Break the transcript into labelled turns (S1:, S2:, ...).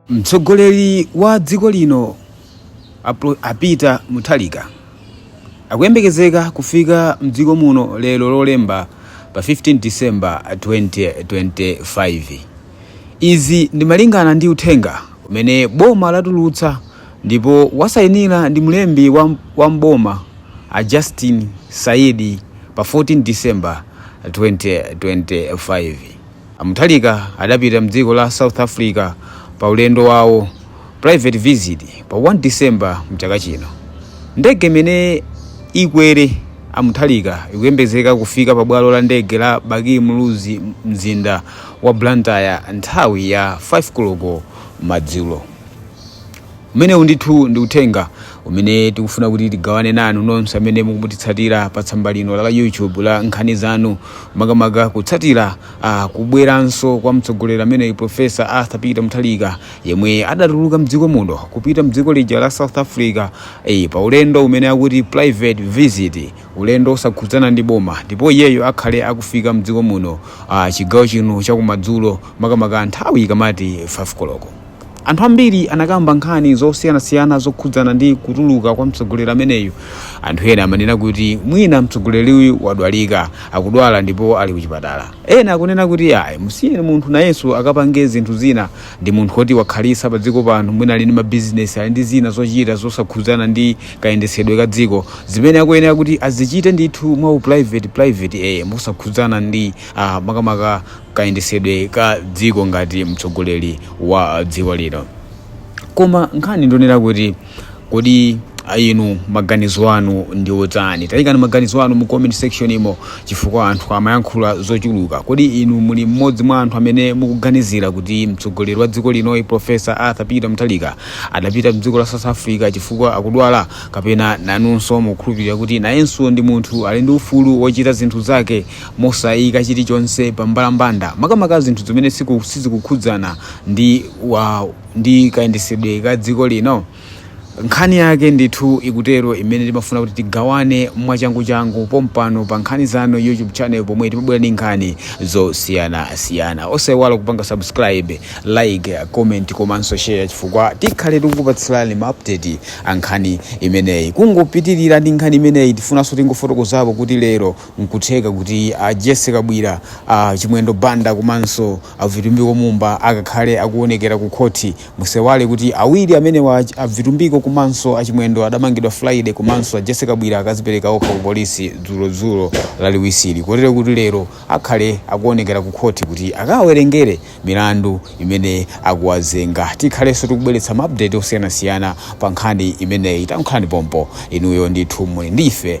S1: Mtsogoleri wa dziko lino a Pro- a Peter Mutharika akuyembekezeka kufika mdziko muno lero Lolemba pa 15 December 2025. Izi ndi malingana ndi uthenga umene boma latulutsa ndipo wasayinira ndi mlembi wa, wa mboma a Justin Saidi pa 14 December 2025. A Mutharika adapita m'dziko la South Africa pa ulendo wawo, private visit, pa 1 December mchaka chino. Ndege imene ikwere a Mutharika ikuyembekezeka kufika pa bwalo la ndege la Bakili Muluzi m'mzinda wa Blantyre nthawi ya 5 koloko madzulo. umenewu ndithu ndi uthenga umene tikufuna kuti tigawane nanu nonse amene mukutitsatira pa tsamba lino la youtube la nkhani zanu makamaka kutsatira uh, kubweranso kwa mtsogoleri ameneyu profesa arthur peter mutharika yemwe adatuluka mdziko muno kupita mdziko lija la south africa eh, pa ulendo umene akuti private visit ulendo osakhudzana ndi boma ndipo iyeyo akhale akufika mdziko muno uh, chigawo chino chakumadzulo makamaka nthawi ikamati 5 koloko Anthu ambiri anakamba nkhani zosiyanasiyana zokhudzana ndi kutuluka kwa mtsogoleri ameneyu. Anthu ena amanena kuti mwina mtsogoleriyu wadwalika, akudwala ndipo ali kuchipatala. Ena akunena kuti ayi musiyeni munthu nayenso akapange zinthu zina, ndi munthu oti wakhalitsa pa dziko pano, mwina ali ndi ma business, ali ndi zina zochita zosakhudzana ndi kayendetsedwe ka dziko zimene akuyenera kuti azichite ndithu mwa u private private ee mosakhudzana ndi makamaka kayendesedwe ka dziko ngati mtsogoleri wa dziko lino koma nkhani ndi yonena kuti kodi inu maganizo anu ndi otani tayikani maganizo anu mu comment section imo chifukwa anthu amayankhula zochuluka kodi inu muli mmodzi mwa anthu amene mukuganizira kuti mtsogoleri wa dziko linoyi profesa arthur peter mutharika adapita mdziko la south africa chifukwa akudwala kapena nanunso mukukhulupirira kuti nayenso ndi munthu ali ndi ufulu wochita zinthu zake mosaika chilichonse pa mbalambanda, makamaka zinthu zimene sizikukhudzana ndi kayendesedwe ka dziko lino? Nkhani yake ndithu ikutero imene timafuna kuti tigawane mwachanguchangu pompano pa nkhani zanu YouTube channel pomwe timabwera ndi nkhani zosiyanasiyana. Osaiwala kupanga subscribe, like, comment komanso share chifukwa tikhale tikukupatsirani ma update a nkhani imeneyi. Kungopitirira ndi nkhani imeneyi tifunanso tingofotokozapo kuti lero Nkutheka kuti a Jessie Kabwira, a Chimwendo Banda komanso a Vitumbiko Mumba akakhale akuonekera ku khothi. Musaiwale kuti awiri amenewa, a Vitumbiko komanso a Chimwendo adamangidwa Friday komanso a Jessie Kabwira akazipereka okha ku polisi dzulo dzulo laliwisili kotero kuti lero akhale akuonekera ku khothi kuti akawawerengere milandu imene akuwazenga. Tikhalenso tikubweretsa ma update osiyanasiyana pa nkhani imeneyi. Takhalani pompo inuyo ndithu muli ndi ife.